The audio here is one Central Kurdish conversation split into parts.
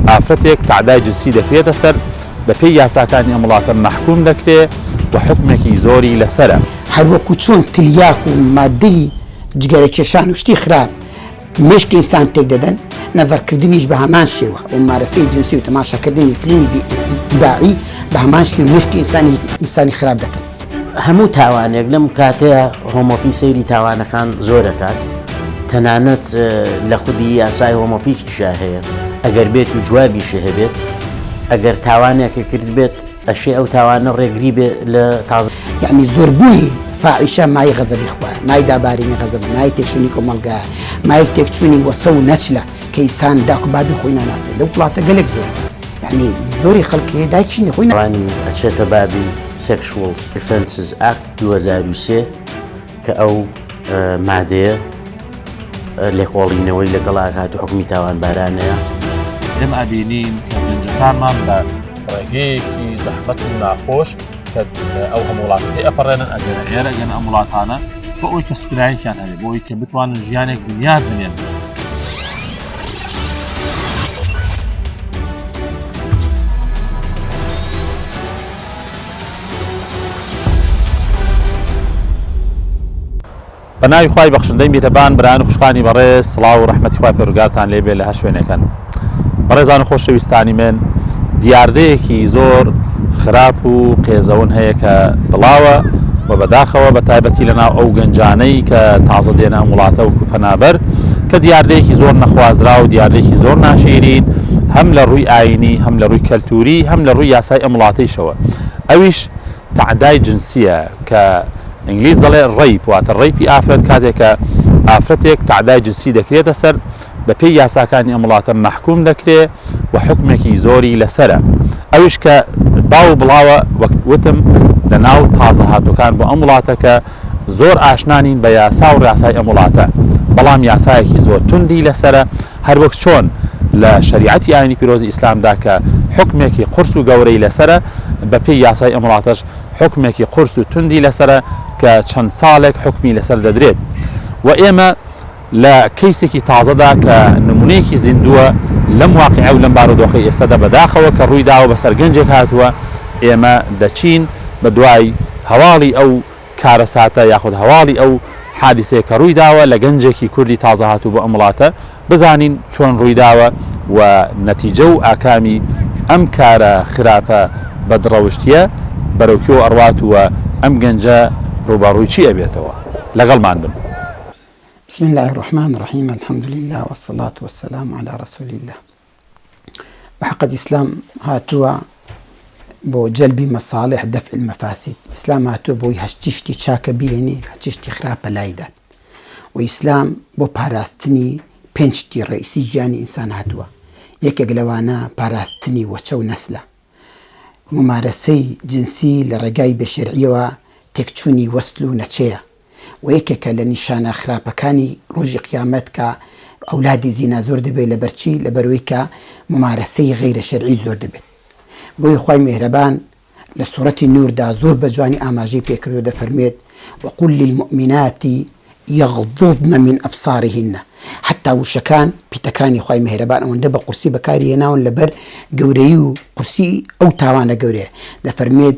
ئافرەتێک تەعدای جنسی دەکرێتە سەر بە پێی یاساکانی ئەم وڵاتە مەحکووم دەکرێ و حکومێکی زۆری لەسەرە. هەروەکو چۆن تلیاک و ماددەی جگەرەکێشان و شتی خراپ مێشکی ئینسان تێک دەدەن، نەزەڕکردنیش بە هەمان شێوە، مومارەسەی جنسی و تەماشاکردنی فلیمی بی ئیباحی بە هەمان شێوە مێشکی ئینسانی ئینسانی خراپ دەکەن. هەموو تاوانێک لەم کاتەیە هۆمۆفی سەیری تاوانەکان زۆرەکات تەنانەت لە خودی یاسای هۆمۆفیسکیشا هەیە ئەگەر بێت و جوابیشە هەبێت ئەگەر تاوانێکی کرد بێت ئەشێ ئەو تاوانە ڕێگری بێ لە تازە یعنی زۆربوونی فاعیشە مای غەزەبی خوارد مای دابارینی غەزەب مای تێکشونی کۆمەلگا مایک تێکچوونی وەسە و نەچلە کەیسان داکو بابی خۆی ناناسێت لەو وڵاتە گەلێک زۆر یعنی زۆری خەڵکێ داچینی خۆی نوانی ئەچێتە بابی سێکشوڵ ئفنسز ئاک 2023 کە ئەو مادەیە لێکۆڵینەوەی لەگەڵ ئاکات و حکومی تاوانبارانەیە لەم ئەبینین کە بنجەکانمان بە ڕێگەیەکی زەحمەت و ناخۆش ئەو هەم وڵاتەکەی ئەپەڕێنن ئەگەنە ئێرە گەن ئەم وڵاتانە بۆ ئەوی کە سکرایکیان هەبێ بۆی کە بتوانن ژیانێک بنیاد بنێن. بە ناوی خوای بەخشندەی میهرەبان برایان و خوشکانی بەڕێز سڵاو و ڕەحمەتی خوای پەروەردگارتان لێ بێ لە هەر شوێنێکن بەڕێزان و خۆشەویستانی من دیاردەیەکی زۆر خراپ و قێزەون هەیە کە بڵاوە و بەداخەوە بە تایبەتی لە ناو ئەو گەنجانەی کە تازە دێنە ئەم وڵاتە و کوپەنابەر کە دیاردەیەکی زۆر نەخوازرا و دیاردەیەکی زۆر ناشیرین هەم لە ڕووی ئاینی هەم لە ڕووی کەلتوری هەم لە ڕووی یاسای ئەم وڵاتەیشەوە ئەویش تەعدای جنسیە کە ئینگلیز دەڵێ ڕەیپ واتە ڕەیپی ئافرەت کاتێک کە ئافرەتێک تەعدای جنسی دەکرێتە سەر بە پێی یاساکانی ئەم وڵاتە مەحکوم دەکرێ و حکمێکی زۆری لەسرە ئەویش کە باو بڵاوە وەک وتم لە ناو تازە هاتووەکان بۆ ئەم وڵاتەکە زۆر ئاشنا نین بە یاسا و ڕاسای ئەم وڵاتە بەڵام یاسایەکی زۆر توندی لەسەرە هەروەک چۆن لە شەریعەتی ئاینی پیرۆزی ئیسلامدا کە حکمێکی قرس و گەورەی لەسرە بە پێی یاسای ئەمڵاتەش حکمێکی قرس و توندی لەسرە کە چەند ساڵێک حکمی لەسەر دەدرێت و ئێمە لە کەیسێکی تازەدا کە نموونەیەکی زیندووە لەم واقیع و لەم بارودۆخەی ئێستەدا بەداخەوە کە ڕووی داوە بەسەر گەنجێک هاتووە، ئێمە دەچین بە دوای هەواڵی ئەو کارەساتە یاخود هەواڵی ئەو حادیسەیە کە ڕووی داوە لە گەنجێکی کوردی تازە هاتوو بۆ ئەم وڵاتە بزانین چۆن ڕووی داوە و نەتیجە و ئاکامی ئەم کارە خراپە بەدڕەوشتیە بەرەو کوێوە ئەڕوات و ئەم گەنجە ڕووبەڕووی چی ئەبێتەوە؟ لەگەڵمان بن. بسم اللە الرحمن الرحیم الحمد للە والصلاة والسلام علی رسول اللە بەحەقت ئیسلام هاتووە بۆ جەلبی مەساڵح دەفع المەفاسید ئیسلام هاتووە بۆی هەشتی شتی چاکە بینی هەچی شتی خراپە لایدا و ئیسلام بۆ پاراستنی پێنج شتی ڕئیسی گیانی ئینسان هاتووە یەکێک لەوانە پاراستنی وەچە و نەسلە ممارەسەی جنسی لە ڕێگای بێشێرعیەوە تێکچوونی وەسل و نەچەیە وە یەکێکە لە نیشانە خراپەکانی ڕۆژی قیامەت کە ئەولادی زینا زۆر دەبێت لەبەر چی لەبەرئەوەی کە مومارەسەی غەیرە شەرعی زۆر دەبێت بۆیە خوای میهرەبان لە سورەتی نوردا زۆر بە جوانی ئاماژەی پێکردو دەفەرموێت وقل للمؤمنات یغضضن من ابصارهن حتا وشەکان پیتەکانی خوای میهرەبان ئەوەندە بە قورسی بەکاری هێناون لەبەر گەورەی و قورسی ئەو تاوانە گەورەیە دەفەرمێت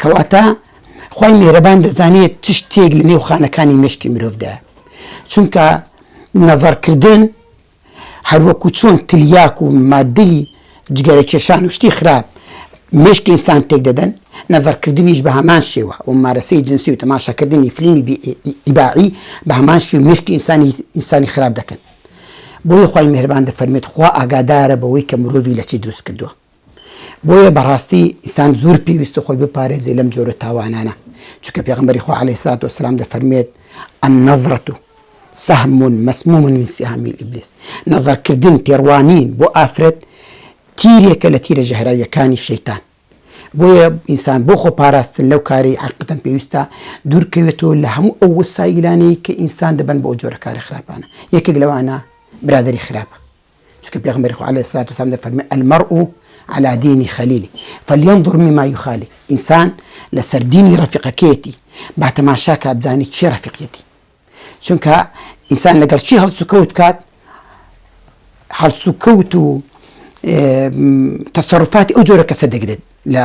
کەواتە خوای میهرەبان دەزانێت چ شتێک لە نێو خانەکانی مێشکی مرۆڤدا چونکە نەزەڕکردن هەروەکو چۆن تلیاک و مادەی جگەرە کێشان و شتی خراپ مشکی ئینسان تێک دەدەن نەزەرکردنیش بە هەمان شێوە و مارەسەی جنسی و تەماشاکردنی فلیمی ئیباعی بە هەمان شێ مشکی ئینسانی ئینسانی خراپ دەکەن بۆی خی مهربان دەفەرمێت خوا ئاگادارە بەوەی کە مرۆڤی لە چی دروست کردووە بۆیە بەڕاستی ئینسان زور پێویستە خۆی بپارێزێ لەم جۆرە تاوانانە، چونکە پێغەمبەری خوا علیە سڵات وسلام دەفەرموێت، النظرە سهم مسموم من سهام ابلیس، نەزەرکردن تێڕوانین بۆ ئافرەت تیرێکە لە تیرە ژەهراویەکانی شەیتان، بۆیە ئینسان بۆ خۆ پاراستن لەو کارەی عەقیدەن پێویستە دورکەوێتەوە لە هەموو ئەو وسایلانەی کە ئینسان دەبەن بۆ جۆرە کارە خراپانە، یەکێک لەوانە برادەری خراپە. چونکە پێغەمبەری خوا علیە الصلوة والسلام دەفەرمێ المرء على دین خلیلی فلیەنظر مما یخالی ئینسان لەسەر دینی ڕەفیقەکەیەتی با تەماشا کات بزانی چی ڕەفیقیەتی چونکە ئینسان لەگەڵ چی هەڵسوکەوت بکات هەڵسوکەوت و تەسەڕفاتی ئەو جۆرە کەسە دەگرێت لە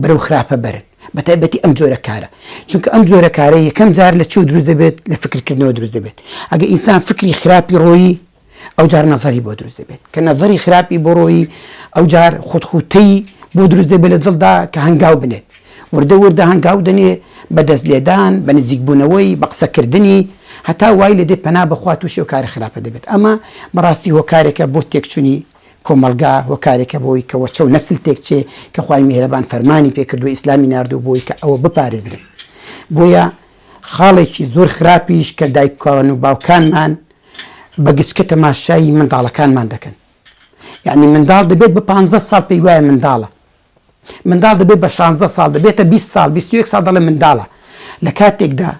بەرەو خراپە بەرن بە تایبەتی ئەم جۆرە کارە چونکە ئەم جۆرە کارە یەکەم جار لە چی و دروست دەبێت لە فکرکردنەوە دروست دەبێت ئەگە ئینسان فکری خراپی ڕۆیی ئەو جار نەفەری بۆ دروست دەبێت کە نەفەری خراپی بۆ ڕۆیی ئەو جار خودخوتەی بۆ دروست دەبێت لە دڵدا کە هەنگاو بنێت وردە وردە هەنگاو دەنێ بە دەست لێدان بە نزیکبوونەوەی بە قسەکردنی هەتا وای لە دێ پەنا بخوات و شێو کارە خراپە دەبێت ئەمە بەڕاستی هۆکارێکە بۆ تێکچوونی کۆمەڵگا هۆکارێکە بۆی کە وەچەو نەسل تێکچێ کە خوای میهرەبان فەرمانی پێکردوە ئیسلامی ناردوە بۆی کە ئەوە بپارێزرێن بۆیە خاڵێکی زۆر خراپیش کە دایکان و باوکانمان بە گچکە تەماشایی منداڵەکانمان دەکەن یعنی منداڵ دەبێت بە پانزە ساڵ پێی وایە منداڵە منداڵ دەبێت بە شانزە ساڵ دەبێتە بیست ساڵ بیست و یەک ساڵ دەڵێن منداڵە لە کاتێکدا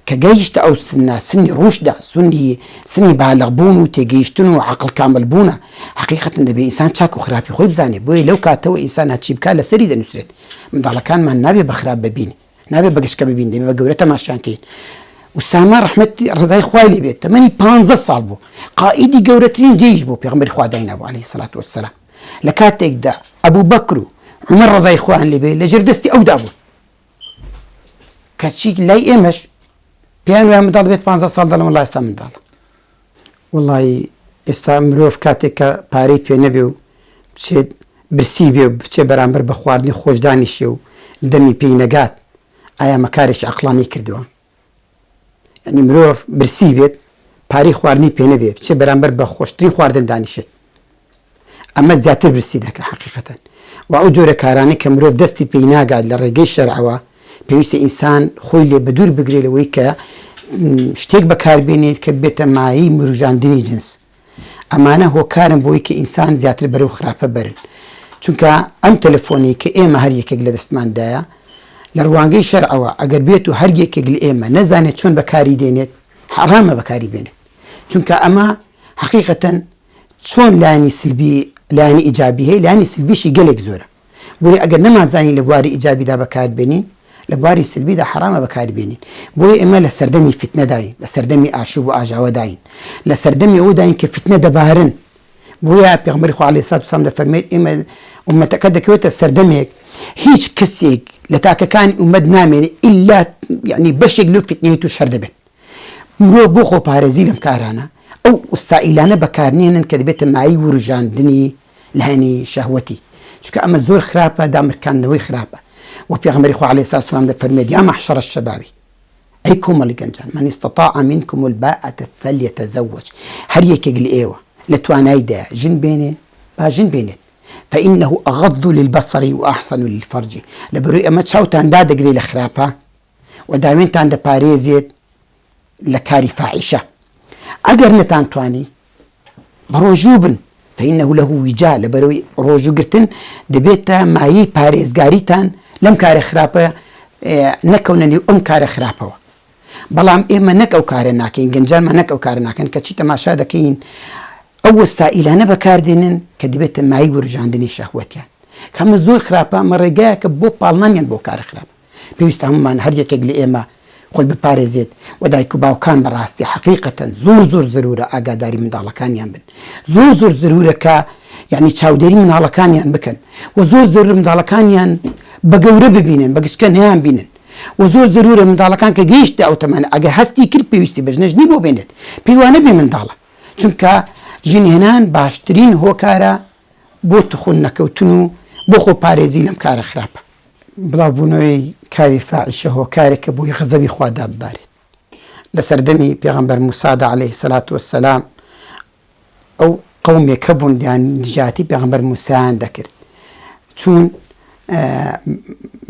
کە گەیشتە ئەو سنە سنی ڕوشدە سنی سنی بالەغبوون و تێگەیشتن و عقل کامل بوونە حقیقەتن دەبێت ئینسان چاک و خراپی خۆی بزانێت بۆیە لەو کاتەوە ئینسان هەچی بکات لەسەری دەنووسێت منداڵەکانمان نابێ بەخراپ ببین نابێت بەگشتکە ببین دەبێت بە گەورە تەماشیان کەین وسامە ڕحمەتی ڕزای خوای لێ بێت تەمەنی پ ساڵ بوو قائیدی گەورەترین جێیش بوو پێغمبەری خوا داینابوو عليه سلات وسلام لە کاتێکدا ئەبو بەکر و عومەر ڕەزای خوایان لێ بێ لە ژێر دەستی ئەودا بوون کەچی لای ئێمەش پێیان وایە منداڵ بێت 15 ساڵ دەڵم وڵای ئێستا منداڵە وڵی ئێستا مرۆڤ کاتێک کە پارەی پێ نەبێ و بچێت برسی بێ و بچێ بەرامبەر بە خواردنی خۆشدانیشێ و دەمی پێی نەگات ئایا مەکارێکی عقلانی کردووە یانی مرۆڤ برسی بێت پارەی خواردنی پێ نەبێ بچێ بەرامبەر بە خۆشترین خواردن دانیشێت ئەمە زیاتر برسی دەکە حقیقەتەن و ئەو جۆرە کارانە کە مرۆڤ دەستی پێی ناگات لە ڕێگەی شەرعەوە پێویستە ئینسان خۆی لێ بە دوور بگرێت لەوەی کە شتێک بەکاربێنێت کە بێتە مایی مروژاندنی جنس ئەمانە هۆکارن بۆی کە ئینسان زیاتر بەرەو خراپە بەرن چونکە ئەم تەلەفۆنەی کە ئێمە هەر یەکێک لە دەستماندایە لە ڕوانگەی شەرعەوە ئەگەر بێت و هەر یەکێک لە ئێمە نەزانێت چۆن بەکاری دێنێت حەڕامە بەکاری بێنێت چونکە ئەمە حقیقەتەن چۆن لانی سلبی لانی ئیجابی هەیە لانی سلبیشی گەلێک زۆرە بۆیە ئەگەر نەمانزانی لە بواری ئیجابیدا بەکاربێنین، لە بواری سلبیدا حەرامە بەکاریبێنین. بۆیە ئێمە لە سەردەمی فیتنەداین، لە سەردەمی ئاشوب و ئاژاوەداین، لە سەردەمی ئەوەداین کە فیتنە دەبارن. بۆیە پێغەمبەری خوا عەلەیهی سڵات وسڵام دەفەرموێت ئێمە ئوممەتەکە دەکەوێتە سەردەمێک هیچ کەسێک لە تاکەکانی ئوممەت نامێنێت ئیلا یەعنی بەشێک لەو فیتنەیە تووش هەر دەبێت. مرۆڤ بۆ خۆپارێزی لەم کارانە ئەو وسائیلانە بەکارنێنن کە دەبێتە مایەی وروژاندنی لایەنی شەهوەتی چونکە ئەمە زۆر خراپە دامرکاندنەوەی خراپە وە پێغەمبەری خوا عەلەیهی سڵاوات وسەلام دەفەرموێت یا معشر الشباب ئەی کۆمەڵی گەنجان من استطاع منکم الباءة فلیتزوج هەر یەکێک لە ئێوە لە توانایدایە ژن بێنێ با ژن بێنێت فإنه أغض للبصر وأحسن للفرج لەبەرەوەی ئەمە چاوتان دادەگرێ لە خراپە و داوێنتان دەپارێزێت لە کاری فاحیشە ئەگەر نەتانتوانی بەڕۆژوو بن فإنه له وجا لەبەرەوەی ڕۆژوگرتن دەبێتە مایەی پارێزگاریتان لەم کارە خراپە نەکەونە نێو ئەم کارە خراپەوە بەڵام ئێمە نەک ئەو کارە ناکەین گەنجانمان نەک ئەو کارە ناکەن کەچی تەماشا دەکەین ئەو وەسائلانە بەکاردێنن کە دەبێتە مای ورژاندنی شەهوەتیان کەمە زۆر خراپە مەڕێگایەکە بۆ پاڵنانیان بۆ کارە خراپە پێویستە هەموومان هەر یەکێک لە ئێمە خۆی بپارێزێت و دایک و باوکان بە ڕاستی حەقیقەتەن زۆر زۆر زەرورە ئاگاداری منداڵەکانیان بن زۆر زۆر زەرورە کە یعنی چاودێری مناڵەکانیان بکەن و زۆر زۆر منداڵەکانیان بە گەورە ببینن بە گشتکە نیان بینن و زۆر زەرورە منداڵەکان کە گەیشت ئەو تەمانە ئەگە هەستی کرد پێویستی بەژنەژنی بۆ بێنێت پێیوانە بێ منداڵە چونکە ژنهێنان باشترین هۆکارە بۆ توخن نەکەوتن و بۆ خۆ پارێزی لەم کارە خراپە. بڵاو بوونەوەی کاری فاعیشە هۆکارێکە بۆی غەزەبی خوا داببارێت. لە سەردەمی پێغەمبەر موسادا علیە سلات وسلام ئەو قەومێک هەبوون دەیان دژایەتی پێغەمبەر موسایان دەکرد چون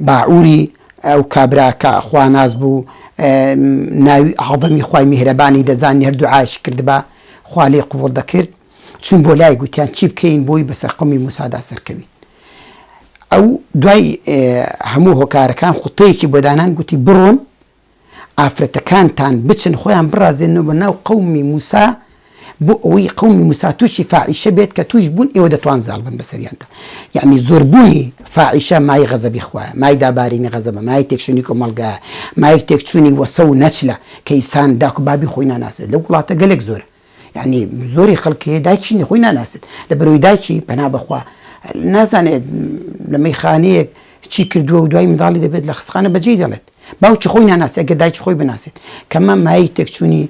باعوری ئەو کابراکە خواناز بوو ناوی عادەمی خی میهرەبانی دەزانی هەردوو عاش کردبا خوا لێ قوڵ دەکرد چووین بۆ لای گوتیان چی بکەین بۆی بەسەر قومی موسادا سەرکەوین ئەو دوای هەموو هۆکارەکان خوتەیەکی بۆ دانان گوتی بڕۆن ئافرەتەکانتان بچن خۆیان بڕازێنەوە بە ناو قومی موسا بۆ ئەوەی قومی موسا تووشی فاعیشە بێت کە توش بوون ئێوە دەتوان زاڵ بن بەسەریاندا یعنی زۆربوونی فاعیشە مای غەزەبی خوایە مای دابارینی غەزەبە مای تێکشنی کۆمەلگا مایک تێکچوونی وەسە و نەچلە کەیسان داکو بابی خۆی ناناسێت لە وڵاتە گەلێک زۆر یانی زۆری خەڵک هەیە دایکی نی خۆی ناناسێت لە بەرەوەی دایکی پەنا بەخوا نازانێت لە مەیخانەیەک چی کردووە و دوای منداڵی دەبێت لە خستخانە بەجێی دەڵێت باوکی خۆی ناناسێت گە دایکی خۆی بناسێت کەمە مای تێکچوونی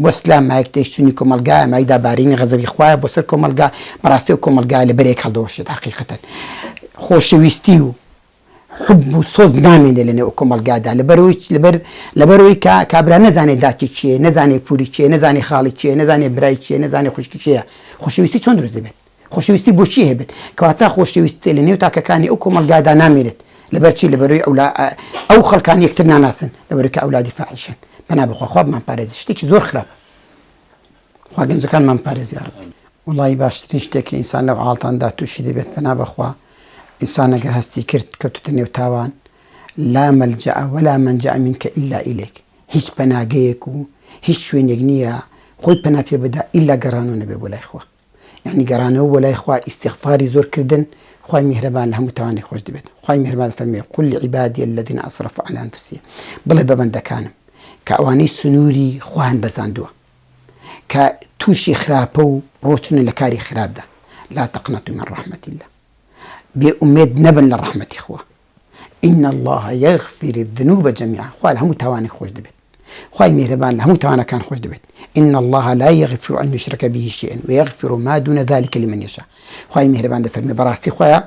وەسلا مایک تێشتنی کۆمەلگا مایدا بارینی غەزەوی خوایە بۆ سەر کۆمەلگا بەڕاستی و کۆمەلگا لە بەرێک هەڵدەوەشێت حقیقەتەن خۆشەویستی و حب و سۆز نامێنێ لە نێو کۆمەڵگادا لەبەرەوەی چ؟ لەبەر لەبەرەوەی کە کابرا نەزانێ داکی کێیە، نەزانێ پووری کێیە، نەزانێ خاڵی کێیە، نەزانێ برای کێیە، نەزانێ خوشکی کێیە، خۆشەویستی چۆن دروست دەبێت؟ خۆشەویستی بۆ چی هەبێت؟ کەواتە خۆشەویستی لە نێو تاکەکانی ئەو کۆمەڵگادا نامێنێت، لەبەر چی؟ لەبەرەوەی ئەو لا ئەو خەڵکان یەکتر ناناسن، لەبەرەوەی کە ئەولادی فاحیشن، پەنا بەخوا خوا بمانپارێزێت شتێکی زۆر خراپە. خوا گەنجەکانمان پارێز یارب. وەڵایی باشترین شتێک کە ئینسان لەو عاڵتاندا تووشی دەبێت پەنا بەخوا ئینسان گەر هەستی کرد کەوتتە نێو تاوان لا ملجأ ولا منجأ منک الا الیک هیچ پەناگەیەک و هیچ شوێنێک نییە خۆی پەنا پێ بدا ئیلا گەڕانەوە نەبێ بۆ لای خوا یعنی گەڕانەوە بۆ لای خوا ئیستیغفاری زۆر کردن خوای میهرەبان لە هەموو تاوانێک خۆش دەبێت خوای میهرەبان فەرمووی قل لعبادی الذین اسرفوا علی انفسهم بڵێ بە بەندەکانم کە ئەوانەی سنووری خۆیان بەزاندووە کە توشی خراپە و ڕۆچنە لە کاری خراپدا، لا تقنطوا من رحمە اللە، بێ ئومێد نەبن لە ڕەحمەتی خوا، ان اللە یغفر الذنوب جمیعا، خوا لە هەموو تاوانێک خۆش دەبێت، خوای میهرەبان لە هەموو تاوانەکان خۆش دەبێت، ان اللە لا یغفر ان یشرک به شیئا ویغفر ما دون ذلک لمن یشاء، خوای میهرەبان دەفەرمێ بەڕاستی خوا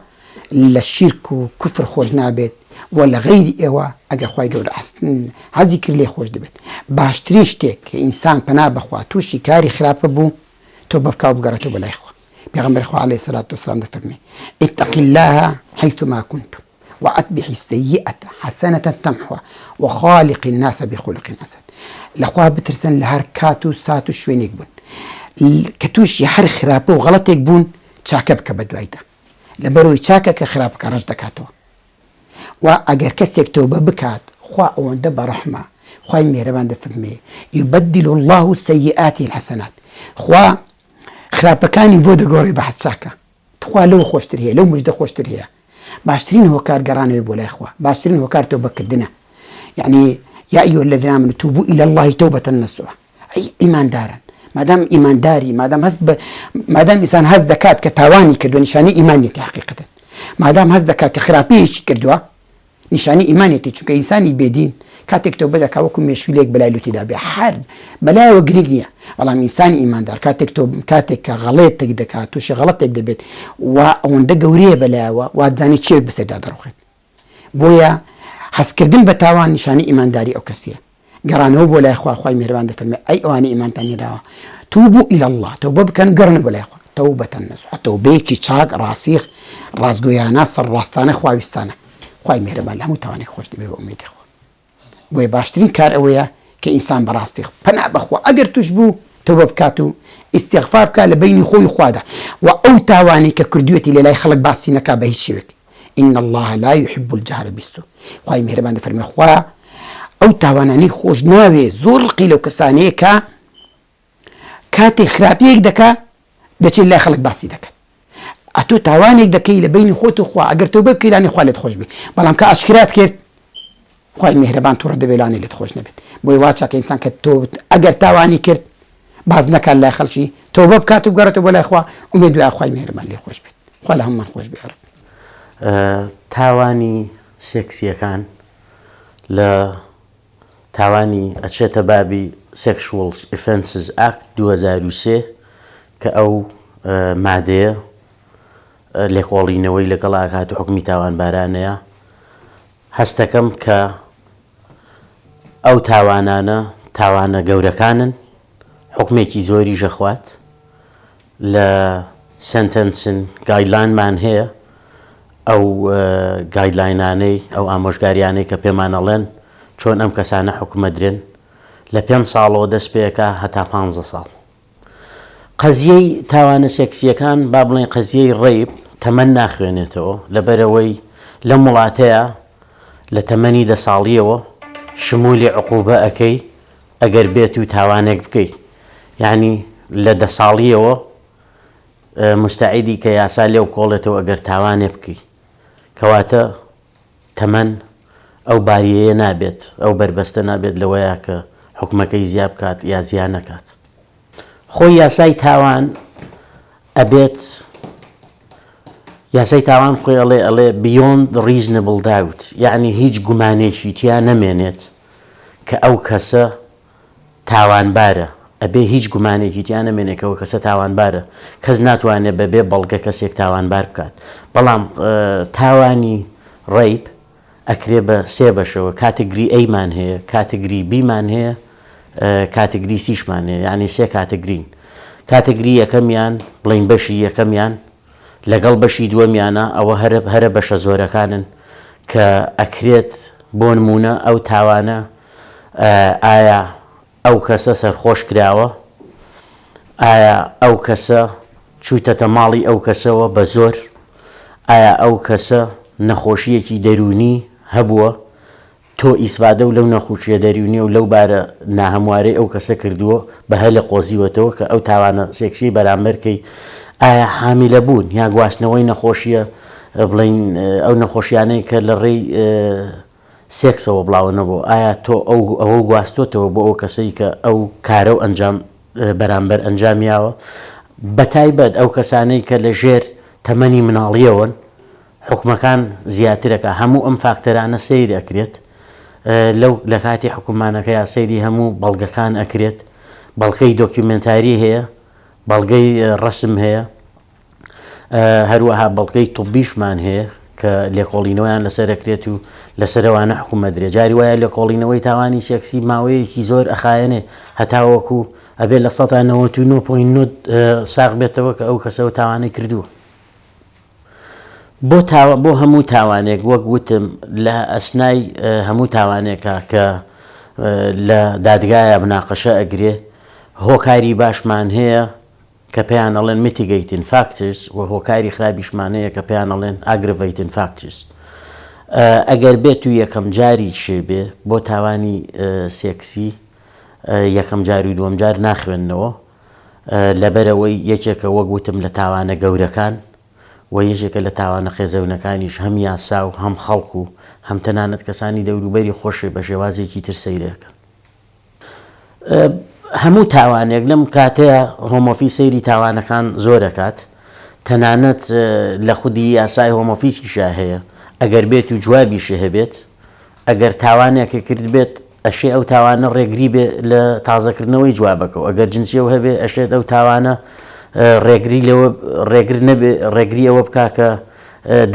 لە شیرک و کوفر خۆش نابێت وە لە غەیری ئێوە ئەگەر خوای گەورە حەزی کرد لێی خۆش دەبێت باشترین شتێک کە ئینسان پەنا بەخوا توشی کاری خراپە بوو تۆبە بکا و بگەڕێتەوە بە لای خوا پێغەمبەری خوا عەلەیهی سەلات وسلام دەفەرمێ اتقی اللە حیثما کنت وأتبع السیئە حەسەنە تمحوها وخالق الناس بخلق حسن لەخوا بترسن لە هەر کات و سات و شوێنێک بوون کە تووشی هەر خراپە و غەڵەتێک بوون چاکە بکە بە دوایدا لەبەرئەوەی چاکە کە خراپەکە ڕەش دەکاتەوە وا ئەگەر کەسێک تۆبە بکات خوا ئەوەندە بەڕەحمە خوای مێرەبان دەفەرمێ یبدل الله السیئات الحسنات خوا خراپەکانی بۆ دەگۆڕێ بە حەچاکە تخوا لەو خۆشتر هەیە لەو مژدە خۆشتر هەیە باشترین هۆکار گەڕانەوەی بۆ لای خوا باشترین هۆکار تۆ بەکردە یعنی یا ئیوە لە درامن تووبوو ئیلە اللهی تەو بەتەن نەسوە ئەی ئیماندارن مادام ئیمانداری مادام هەست بە مادام ئیسان هەست دەکات کە تاوانی کردو نیشانی ئیمانێتی حقیقەتن مادام هەست دەکات کە خراپەیەکی کردووە نیشانی ئیمانێتی چونکە ئینسانی بێدین کاتێک تۆ بەدەکا وەکو مێشولێک بەلای لوتیدا بێ حەر بەلایەوە گرنگ نییە بەڵام ئینسانی ئیماندار کاتێک تۆ کاتێک کە غەڵێتێک دەکات تووشی غەڵەتێک دەبێت و ئەوەندە گەورەیە بەلایەوە وادزانی چێک بەسەردا دەڕوخێت بۆیە هەستکردن بە تاوان نیشانەی ئیمانداری ئەو کەسیە. گەڕانەوە بۆ لای خوا خوای میهرەبان دەفەرموێت، ئەی ئەوانەی ئیمانتان هێناوە، توبوا الی اللە، تەوبە بکەن گەڕێنەوە بۆ لای خوا، توبە نصوحا، تەوبەیەکی چاک، ڕاسیخ، ڕاستگۆیانە، سەرڕاستانە، خواویستانە. خوای میهرەبان لە هەموو تاوانێک خۆش دەبێت بە ئومێدی خوا. بۆیە باشترین کار ئەوەیە کە ئینسان بەڕاستی پەنا بەخوا ئەگەر توش بوو تەوبە بکات و ئیستیغفار بکات لە بەینی خۆی و خوادا وە ئەو تاوانەی کە کردویەتی لە لای خەڵک باسی نەکات بە هیچ شێوەیەک ان اللە لا یحب الجهر بالسوء خوای میهرەبان دەفەرموێ خوا ئەو تاوانانەی خۆش ناوێ زۆر ڕقی لەو کەسانەیە کە کاتێ خراپیەک دەکا دەچێ لای خەڵک باسی دەکەن ئەتۆ تاوانێک دەکەی لە بینی خۆت و خوا ئەگەر تۆبە بکەی لانی خوا لێت خۆش بێ بەڵام کە ئاشکرات کرد خوای میهرەبان توڕە دەبێ لانی لێت خۆش نەبێت بۆی وا چاکە ئینسان کە تۆ ئەگەر تاوانی کرد باز نەکات لای خەڵکی تۆبە بکات و بگەڕێتەوە بۆ لای خوا ئومێد دوای خوای میهرەبان لێ خۆش بێت خوا لە هەموومان خۆش بێ رب تاوانی سێکسیەکان لە تاوانی ئەچێتە بابی Sexual Offences Act دوو هەزار و سێ کە ئەو مادەیە لێکۆڵینەوەی لەگەڵ ئاکات و حکومی تاوانبارانەیە هەستەکەم کە ئەو تاوانانە تاوانە گەورەکانن حکومێکی زۆریش ئەخوات. لە سەنتەنسن گایدلاینمان هەیە، ئەو گایدلاینانەی، ئەو ئامۆژگاریانەی کە پێمان ئەڵێن چۆن ئەم کەسانە حوکم ئەدرێن، لە پێنج ساڵەوە دەست پێکا هەتا پانزە ساڵ. قەزیەی تاوانە سێکسیەکان، با بڵێین قەزیەی ڕەیپ، تەمەن ناخوێنێتەوە، لەبەرئەوەی لەم وڵاتەیا لە تەمەنی دە ساڵیەوە شمولی عقوبە ئەکەی ئەگەر بێت و تاوانێک بکەیت یانی لە دە ساڵیەوە مستعیدی کە یاسا لێو کۆڵێتەوە ئەگەر تاوانێ بکەی کەواتە تەمەن ئەو باریەیە نابێت ئەو بەربەستە نابێت لەوەیە کە حکومەکەی زیاب کات یا زیان نەکات. خۆی یاسای تاوان ئەبێت یاسای تاوان خۆی ئەڵێ ئەڵێ beyond reasonable doubt یعنی هیچ گومانێکی تیا نەمێنێت کە ئەو کەسە تاوانبارە ئەبێ هیچ گومانێکی تیا نەمێنێکەوە کەسە تاوانبارە کەس ناتوانێت بەبێ بەڵگە کەسێک تاوانبار بکات بەڵام تاوانی ڕیپ ئەکرێ بە سێ بەشەوە کاتگری ئەی مان هەیە کاتگری بی مان هەیە کاتگری سیش مان هەیە یانی سێ کاتگرین کاتگری یەکەمیان بڵین بەشی یەکەمیان لەگەڵ بەشی دووەمیانە ئەوە هەرە هەرە بەشە زۆرەکانن کە ئەکرێت بۆ نمونە ئەو تاوانە ئایا ئەو کەسە سەرخۆش کراوە؟ ئایا ئەو کەسە چوویتەتە ماڵی ئەو کەسەوە بە زۆر؟ ئایا ئەو کەسە نەخۆشییەکی دەروونی هەبووە؟ تۆ ئیسفادە و لەو نەخوشییە دەروونییە و لەو بارە ناهەموارەی ئەو کەسە کردووە بە هەلە قۆزیوەتەوە کە ئەو تاوانە سێکسییەی بەرامبەر کەی؟ ئایا حامیلە بوون یا گواستنەوەی نەخۆشییە بڵێین ئەو نەخۆشییانەی کە لە ڕێی سێکسەوە بڵاوە نەبوو، ئایا تۆ ئەو ئەوە گواستۆتەوە بۆ ئەو کەسەی کە ئەو کارەو ئەنجام بەرامبەر ئەنجامیاوە بەتایبەت ئەو کەسانەی کە لە ژێر تەمەنی مناڵیەوەن حوکمەکان زیاترەکا هەموو ئەم فاکتەرانە سەیر ئەکرێت لەو لە کاتی حکومانەکەیا سەیری هەموو بەڵگەکان ئەکرێت بەڵکەی دۆکیومێنتاری هەیە بەڵگەی ڕەسم هەیە. هەروەها بەڵگەی طوبیشمان هەیە کە لێکۆڵینەوەیان لەسەرەکرێت و لەسەرەوانە حکوومەدرێ جاری وایە لێکۆڵینەوەی تاوانی سێکسی ماوەیەکی زۆر ئەخایەنێ هەتاوەکو ئەبێت لە سەدا 99.9 ساغ بێتەوە کە ئەو کەسەوە تاوانەی کردووە بۆ تاوە بۆ هەموو تاوانێک وەک وتم لە ئەسنای هەموو تاوانێکە کە لە دادگایە بناقەشە ئەگرێ هۆکاری باشمان هەیە کە پێیان ئەڵێن Mitigating Factors و هۆکاری خرابیشمان هەیە کە پێیان ئەڵێن Aggravating Factors ئەگەر بێت و یەکەم جاری شێ بێ بۆ تاوانی سێکسی یەکەم جار و دووەم جار ناخوێندنەوە لەبەرەوەی یەکێکە وەک وتم لە تاوانە گەورەکان و یەکێکە لە تاوانە قێزەونەکانیش هەم یاسا و هەم خەڵک و هەم تەنانەت کەسانی دەوروبەری خۆشێ بە شێوازێکی تر سەیرەکەن. هەموو تاوانێک لەم کاتەیە هۆمۆفی سەیری تاوانەکان زۆر ئەکات تەنانەت لە خودی یاسای هۆمۆفیسیشا هەیە ئەگەر بێت و جوابیشی هەبێت ئەگەر تاوانێکی کردبێت ئەشێ ئەو تاوانە ڕێگری بێ لە تازەکردنەوەی جوابەکە و ئەگەر جنسیەو هەبێ ئەشێت ئەو تاوانە ڕێگری لەوە ڕێگر نەبێ ڕێگری ئەوە بکا کە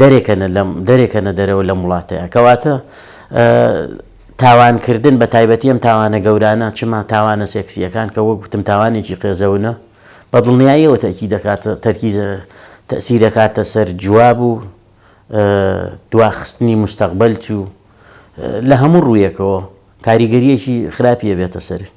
دەرێکەنە لەم دەرێکەنە دەرەوە لەم وڵاتەیە کەواتە تاوانکردن بە تایبەتی ئەم تاوانە گەورانە چ ما تاوانە سێکسییەکان کە وەک گوتم تاوانێکی قێزەونە بە دڵنیاییەوە تەکی دەکات تەرکیز تەسیر دەکاتە سەر جواب و دواخستنی مستەقبل چوو لە هەموو ڕوویەکەوە کاریگەریەکی خراپیە بێتە سەرت.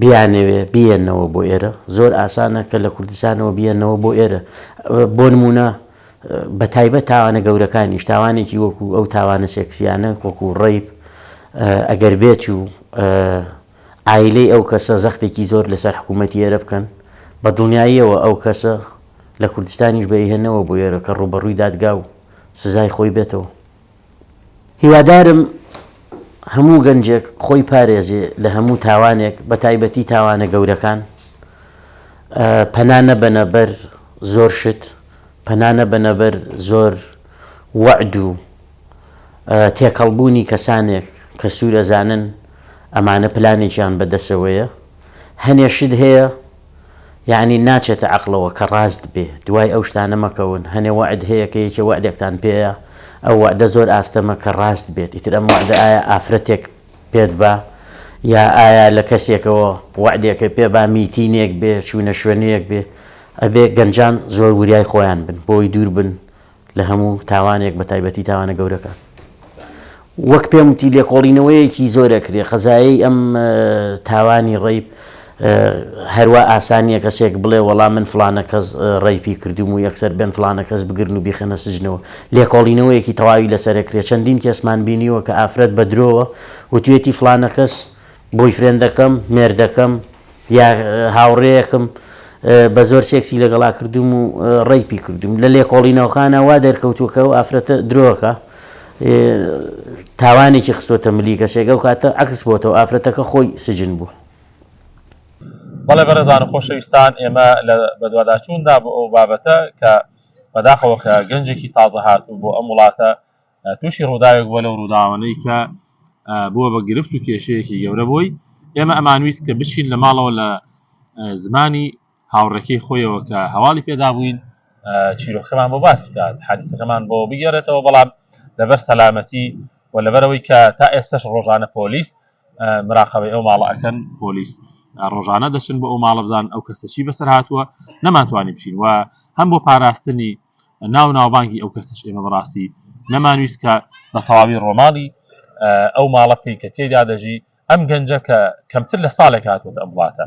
بیانەوێ بیێنەوە بۆ ئێرە زۆر ئاسانە کە لە کوردستانەوە بیێنەوە بۆ ئێرە بۆ نمونە بەتایبەت تاوانە گەورەکانیش تاوانێکی وەکو ئەو تاوانە سێکسیانە وەکو ڕیب ئەگەر بێت و ئایلەی ئەو کەسە زەختێکی زۆر لەسەر حکوومەتی ئێرە بکەن بە دڵنیاییەوە ئەو کەسە لە کوردستانیش بەیهێنەوە بۆ ئێرە کە ڕوبەڕووی دادگا و سزای خۆی بێتەوە هیوادارم هەموو گەنجێک خۆی پارێزێ لە هەموو تاوانێک بە تایبەتی تاوانە گەورەکان پەنا نەبەنە بەر زۆر شت پەنا نەبەنە بەر زۆر وەعد و تێکەڵبوونی کەسانێک کە سوورەزانن ئەمانە پلانێکیان بەدەسەوەیە هەنێ شت هەیە یەعنی ناچێتە عەقڵەوە کە ڕاست بێ دوای ئەو شتانە مەکەون هەنێ وەعد هەیە کە یەکێ وەعدێکتان پێیە ئەو وەعدە زۆر ئاستەمە کە ڕاست بێت ئیتر ئەم وەعدە ئایا ئافرەتێک پێت با یا ئایا لە کەسێکەوە وەعدێکە پێ با میتینێک بێ چوونە شوێنەیەک بێ ئەبێ گەنجان زۆر وریای خۆیان بن بۆی دوور بن لە هەموو تاوانێک بە تایبەتی تاوانە گەورەکان وەک پێم وتی لێکۆڵینەوەیەکی زۆرە کرێ قەزایی ئەم تاوانی ڕیب هەروە ئاسانیە کەسێک بڵێ وەڵا من فلانە کەس ڕیپی کردوم و یەکسەر بن فلانە کەس بگرن و بیخەنە سجنەوە لێکۆڵینەوەیەکی تەواوی لەسەرکرێ چەندین کەسمان بینیوە کە ئافرەت بە درۆوە وتوێتی فلانە کەس بۆیفرێندەکەم، مێردەکەم، یا هاوڕێیەکم بە زۆر سێکسی لەگەڵا کردووم و ڕەیپی کردووم. لە لێکۆڵینەوەکانە وا دەرکەوتووە کە ئەو ئافرەتە درۆکە، تاوانێکی خستۆتە ملی کەسێک، ئەو کاتە عەکس بۆتەوە، ئافرەتەکە خۆی سجن بوو. بەڵێ بەڕێزان و خۆشەویستان، ئێمە لە بەدواداچووندا بۆ ئەو بابەتە کە بەداخەوە کە گەنجێکی تازەهاتوو بۆ ئەم وڵاتە تووشی ڕووداوێک بووە لەو ڕووداوانەی کە بووە بە گرفت و کێشەیەکی گەورە بۆی، ئێمە ئەمانویست کە بچین لە ماڵەوە لە زمانی هاوڕێکەی خۆیەوە کە هەواڵی پێدابووین چیرۆکەمان بۆ باس بکات حادیسەکەمان بۆ بگێڕێتەوە بەڵام لەبەر سەلامەتی و لەبەرەوەی کە تا ئێستش ڕۆژانە پۆلیس مراقبەی ئەو ماڵە ئەکەن پۆلیس ڕۆژانە دەچن بۆ ئەو ماڵە بزان ئەو کەسەچی بەسەر هاتووە نەمانتوانی بچین و هەم بۆ پاراستنی ناو ناوبانگی ئەو کەسەش ئێمە بەڕاستی نەمانویست کە بە تەواوی ڕۆماڵی ئەو ماڵە بکەین کە تێیدا دەژی، ئەم گەنجە کە کەمتر لە ساڵێک هاتووەتە ئەم وڵاتە،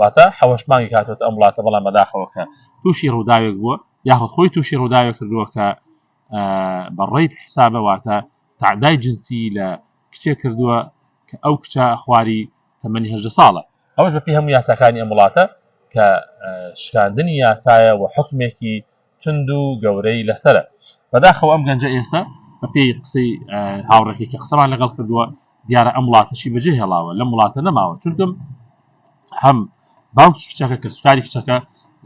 واتە حەوەش مانگێک هاتووەتە ئەم وڵاتە بەڵام بەداخەوە کە تووشی ڕووداوێک بووە یاخود خۆی تووشی ڕووداوێک کردووە کە بە ڕێیپ حسابە واتە تەعدای جنسی لە کچێک کردووە کە ئەو کچە خواری تەمەنی هەژدە ساڵە، ئەوەش بەپێی هەموو یاساکانی ئەم وڵاتە کە شکاندنی یاسایە و حوکمێکی توند و گەورەی لەسەرە. بەداخەوە ئەم گەنجە ئێستە بەپێی قسەی هاوڕێکەی کە قسەمان لەگەڵ کردووە دیارە ئەم وڵاتەشی بەجێ هێڵاوە لەم وڵاتە نەماوە چونکم هەم باوکی کچەکە کە سوکاری کچەکە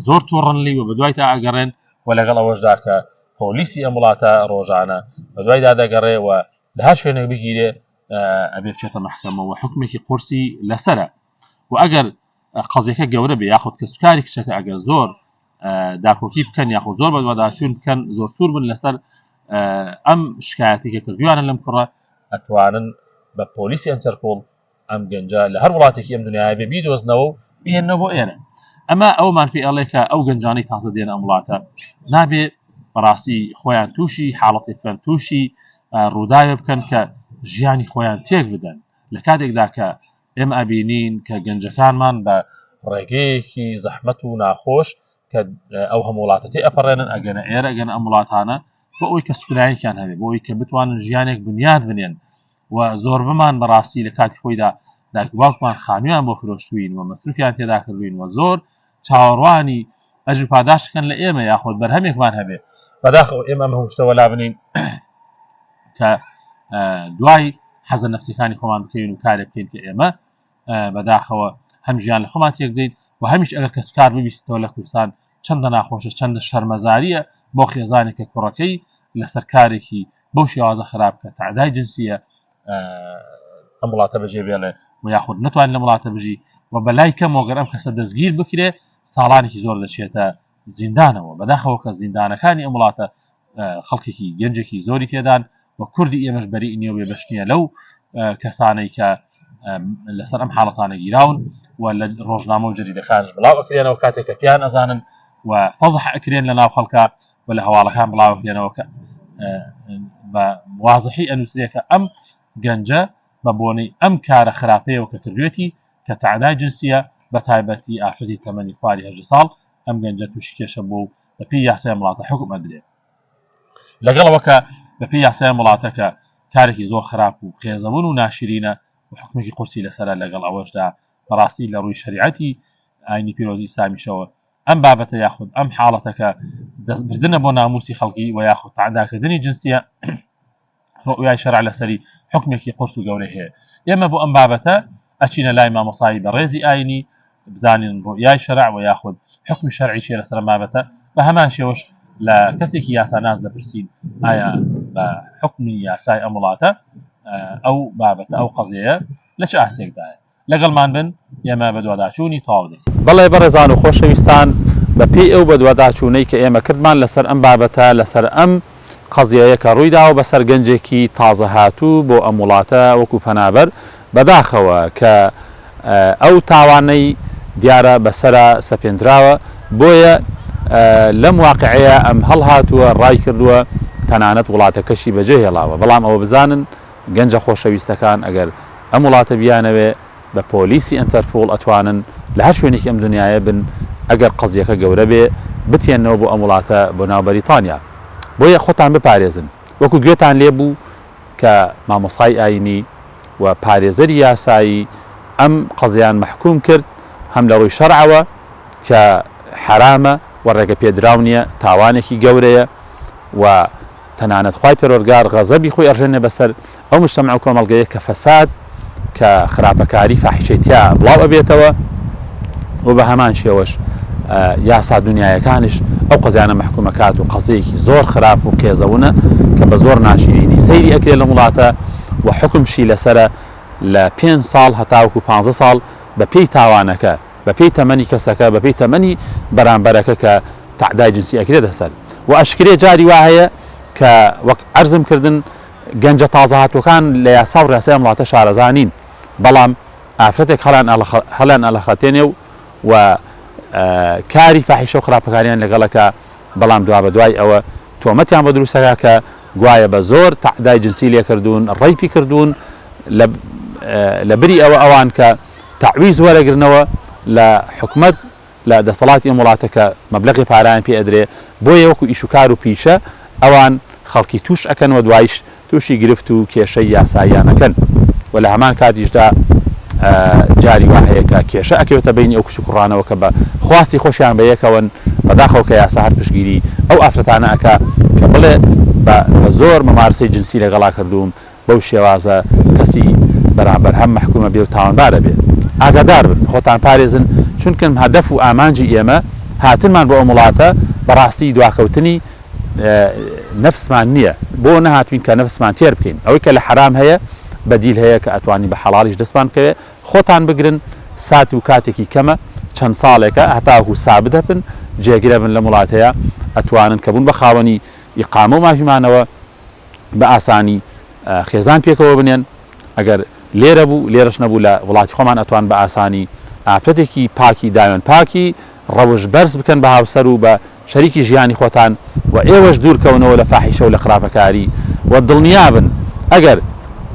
زۆر تۆڕنلی و بەدوای تا ئەگەڕێن و لەگەڵ ئەوەشدا کە پۆلیسی ئەم وڵاتە ڕۆژانە بەدوای دادەگەڕێ و لە هەر شوێنێک بگیرێ ئەبێ بچێتە مەحکەمە و حکمێکی قورسی لەسەرە و ئەگەر قەزیەکە گەورە بێ یاخود کەسکاری کچەکە ئەگەر زۆر داکۆکی بکەن یاخود زۆر بەدواداچوون بکەن زۆر سوور بن لەسەر ئەم شکایەتی کە کردویانە لەم کوڕە ئەتوانن بە پۆلیسی ئەنتەرپۆڵ ئەم گەنجە لە هەر وڵاتێکی ئەم دنیاە بێ بیدۆزنەوە و بێنەوە بۆ ئێرە ئەمە ئەومان پێ ئەڵێ کە ئەو گەنجانی تازە دێن ئەم وڵاتە نابێ بەڕاستی خۆیان تووشی حاڵەتی خوێن تووشی ڕووداوێ بکەن کە ژیانی خۆیان تێک بدەن لە کاتێکدا کە ئێمە ئەبینین کە گەنجەکانمان بە ڕێگەیەکی زەحمەت و ناخۆش کە ئەو هەم وڵاتەتی ئەپەڕێنن ئەگەنە ئێرە ئەگەن ئەم وڵاتانە بۆ ئەوی کە سکرایەکیان هەبێ بۆ ئەوی کە بتوانن ژیانێک بنیاد بنێن و زۆر بمان بەڕاستی لە کاتی خۆیدا داکباوکمان خانویان بۆ فرۆشتوین و مەسروفیان تێدا کردوین و زۆر چاوەڕوانی ئەجر پاداشت کەن لە ئێمە یاخۆت بەرهەمێکمان هەبێ بەداخەوە ئێمە ئەم هەموو شتە وەلا بنین کە دوای حەزە نفسەکانی خۆمان بکەین و کارێک بکەین کە ئێمە بەداخەوە هەم ژیان لە خۆمان تێک دەیت و هەمیش ئەگەر کەس کار ببیستەوە لە کوردستان چەندە ناخۆشە چەندە شەرمەزاریە بۆ خێزانێکە کوڕەکەی لەسەر کارێکی بەو شێوازە خراپ کە تعدای جنسیە ئەم وڵاتە بەجێ بێڵێ و یاخود نتوان لە وڵاتە بژی و بەلای کەم وەگەر ئەم کەسە دەستگیر بکرێ ساڵانێکی زۆر دەچێتە زیندانەوە بەداخەوە کە زیندانەکانی ئەم وڵاتە خەڵکێکی گەنجێکی زۆری تێدان و کوردی ئێمەش بەری نیە وێ بەشتیە لەو کەسانەی کە لەسەر ئەم حاڵەتانە گیراون و لە ڕۆژنامە و جدیدەکانش بڵاو ئەکرێنەوە کاتێک کە پیان ئەزانن و فەزح ئەکرێن لە ناو خەڵکە و لە هەواڵەکان بڵاوەکرێنەوە کە بە وازحی ئەنووسرێ کە ئەم گەنجە بە بۆنەی ئەم کارە خراپەیەوە کە کردوێتی کە تەعدای جنسیە بە تایبەتی ئافرەتی تەمەنی خواری هەژدە ساڵ ئەم گەنجە تووشی کێشە بووە و بەپێی یاسای ئەم وڵاتە حوکم ئەدرێ لەگەڵەوە کە بەپێی یاسای ئەم وڵاتەکە کارێکی زۆر خراپ و قێزەون و ناشرینە و حکومێکی قورسی لەسەرە لەگەڵ ئەوەشدا بەڕاستی لە ڕووی شەریعەتی ئاینی پیرۆزی ئیسلامیشەوە ئەم بابەتە یاخود ئەم حاڵەتە کە دەستبردنە بۆ ناموسی خەڵکی و یاخود تەعداکردنی جنسیە ڕوئای شەرع لەسەری حکمێکی قرس و گەورەی هەیە ئێمە بۆ ئەم بابەتە ئەچینە لای مامۆسایی بەڕێزی ئاینی بزانین ڕوئای شەرع و یاخود حکمی شەرعی چێ لەسەر بابەتە بە هەمان شێوەش لە کەسێکی یاسا ناز دەپرسین ئایا بە حکمی یاسای ئەم وڵاتە ئەو بابەتە ئەو قەزەیە لە چ ئاستێکدایە لەگەڵمان بن ئێمە بەدواداچوونی تەواو دەکەین. بەڵێ بەڕێزان و خۆشەویستان بە پێی ئەو بەدواداچوونەی کە ئێمە کردمان لەسەر ئەم بابەتە لەسەر ئەم قەزیەیە کە ڕوویداوە بەسەر گەنجێکی تازە هاتوو بۆ ئەم وڵاتە وەکو پەنابەر بەداخەوە کە ئەو تاوانەی دیارە بەسەرا سەپێندراوە بۆیە لەم واقعەیە ئەم هەڵهاتووە ڕایکردووە تەنانەت وڵاتەکەشی بەجێهێڵاوە بەڵام ئەوە بزانن گەنجە خۆشەویستەکان ئەگەر ئەم وڵاتە بیانەوێ بە پۆلیسی ئەنتەرپوڵ ئەتوانن لە هەر شوێنێکی ئەم دونیایە بن ئەگەر قەزیەکە گەورە بێ بتێنەوە بۆ ئەم وڵاتە بۆ ناو بەریتانیا بۆیە خۆتان بپارێزن وەکو گوێتان لێ بوو کە مامۆسای ئاینی و پارێزەری یاسایی ئەم قەزیان مەحکوم کرد هەم لە ڕووی شەرعەوە کە حەرامە و ڕێگە پێدراو نیە تاوانێکی گەورەیە و تەنانەت خوای پەروەرگار غەزەبی خۆی ئەڕژێنێ بەسەر ئەو مجتەمەع و کۆمەڵگەیە کە فەساد کە خراپەکاری فاحیشەی تیا بڵاو ئەبێتەوە و بە هەمان شێوەش یاسا دنیایەکانش ئەو قەزیانە مححکوم ئەکات و قەزەیەکی زۆر خراپ و قێزەونە کە بە زۆر ناشرینی سەیری ئەکرێت لە وڵاتە و حکمشی لەسرە لە پێ ساڵ هەتاوکو پ ساڵ بە پێی تاوانەکە بەپێی تەمەنی کەسەکە بەپێی تەمەنی بەرامبەرەکە کە تەعدای جنسی ئەکرێتە سەر وە ئەشکرێ جاری وا هەیە کە وەک عەرزم کردن گەنجە تازە هاتوەکان لە یاسا و ڕێسای ئەم وڵاتە شارەزا نین بەڵام ئافرەتێک هەڵیان ئەڵەخ هەڵیان ئەڵەخەتێنێ و و کاری فاحیشە و خراپەکاریان لەگەڵ ئەکا بەڵام دوابەدوای ئەوە تۆمەتیان بۆ دروست دەکات کە گوایە بە زۆر تەعدای جنسی لێکردوون، ڕەیپی کردوون لە بری ئەوە ئەوان کە تەعویز وەرەگرنەوە لە حکومەت لە دەسەڵاتی ئەم وڵاتە کە مەبلەغی پارەیان پێ ئەدرێ بۆیە وەکو ئیش و کار و پیشە ئەوان خەڵکی تووش ئەکەن و دوایش تووشی گرفت و کێشەی یاساییانەکەن و لە هەمان کاتیشدا جاری وا هەیە کە کێشە ئەکەوێتە بەینی ئەو کچ و کوڕانەوە کە بە خواستی خۆشیان بە یەکەوەن، بەداخەوە کە یاسا هەر پشتگیری ئەو ئافرەتانە ئەکا کە بڵێ بە بە زۆر ممارسەی جنسی لەگەڵا کردووم، بەو شێوازە کەسی بەرامبەر هەم مەحکووم ئەبێ و تاوانبار ئەبێ. ئاگادار بن، خۆتان پارێزن، چونکم هەدەف و ئامانجی ئێمە هاتنمان بۆ ئەم وڵاتە بەڕاستی دواکەوتنی، نەفسمان نیە بۆ نەهاتوین کە نەفسمان تێر بکەین ئەوەی کە لە حەرام هەیە بەدیل هەیە کە ئەتوانی بە حەڵالیش دەستمان بکەوێت خۆتان بگرن سات و کاتێکی کەمە چەند ساڵێکە هەتاکو سابت هەبن جێگرە بن لەم وڵات هەیە ئەتوانن کە بوون بە خاوەنی ئیقامە و مافیمانەوە بە ئاسانی خێزان پێکەوە بنێن ئەگەر لێرە بوو لێرەش نەبوو لە وڵاتی خۆمان ئەتوان بە ئاسانی ئافرەتێکی پاکی داوێن پاکی ڕەوش بەرز بکەن بە هاوسەر و بە شەریکی ژیانی خۆتان و ئێوەش دوور کەونەوە لە فاحیشە و لە خراپەکاری وە دڵنیا بن ئەگەر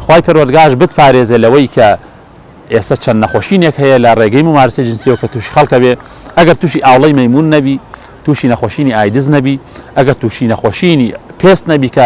خوای پەروەردگارش بتپارێزێ لەوەی کە ئێستا چەند نەخۆشینێک هەیە لە ڕێگەی مومارسەی جنسیەوە کە تووشی خەڵک ئەبێ ئەگەر تووشی ئاوڵەی مەیموون نەبی تووشی نەخۆشینی ئایدز نەبی ئەگەر تووشی نەخۆشینی پێست نەبی کە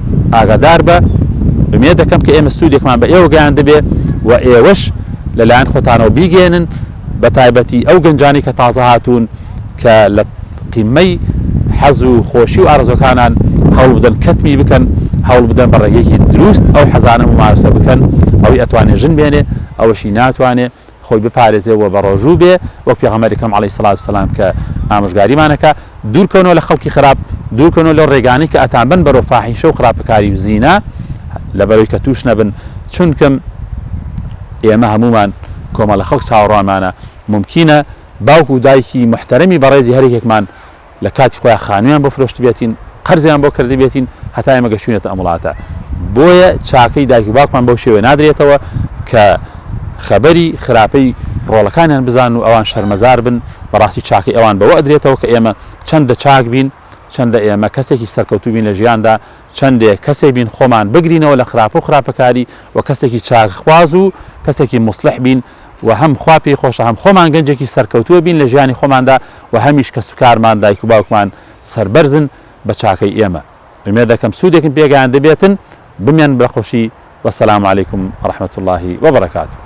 ئاگادار بە ئومێد دەکەم کە ئێمە سوودێکمان بە ئێوە گەیاندبێ و ئێوەش لەلایەن خۆتانەوە بیگەێنن بە تایبەتی ئەو گەنجانی کە تازە هاتوون کە لە قیمەی حەز و خۆشی و ئارزۆکانان هەوڵ بدەن کەتمی بکەن هەوڵ بدەن بە ڕێگەیەکی دروست ئەو حەزانە ممارسە بکەن ئەوی ئەتوانێ ژن بێنێ ئەوەشی ناتوانێ خۆی بپارێزێ و بەڕۆژوو بێ وەک پێغەمبەر ئەکرەم عەلەیهی سڵاوت و سەلام کە ئامۆژگاریمان ئەکا دوور کەونەوە لە خەڵکی خراپ دوور کەونەوە لەو ڕێگانەی کە ئەتانبەن بەرەو فاحیشە و خراپەکاری و زینا لەبەرەوەی کە تووش نەبن چونکم ئێمە هەموومان کۆمەڵە خەڵک چاوەڕوانمانە مومکینە باوک و دایکی محتەرەمی بەڕێزی هەر یەکێکمان لە کاتی خۆیا خانویان بۆ فرۆشتبێتین، قەرزیان بۆ کردبێتین هەتا ئێمە گەشتوینەتە ئەم وڵاتە، بۆیە چاکەی دایک و باوکمان بەو شێوەیە نادرێتەوە کە خەبەری خراپەی ڕۆڵەکانیان بزانن و ئەوان شەرمەزار بن، بەڕاستی چاکەی ئەوان بەوە ئەدرێتەوە کە ئێمە چەندە چاک بین، چەندە ئێمە کەسێکی سەرکەوتوو بین لە ژیاندا، چەندێ کەسێ بین خۆمان بگرینەوە لە خراپە و خراپەکاری و کەسێکی چاکخواز و کەسێکی موسڵح بین، و هەم خوا پێی خۆشە هەم خۆمان گەنجێکی سەرکەوتووە بین لە ژیانی خۆماندا و هەمیش کەس و کارمان دایک و باوکمان سەربەرزن بە چاکەی ئێمە ئومێد دەکەم سوودێکم پێگەیاندە بێتن بمێن بە خۆشی وەسەلام علیکم ڕحمەت اللهی وبرکاته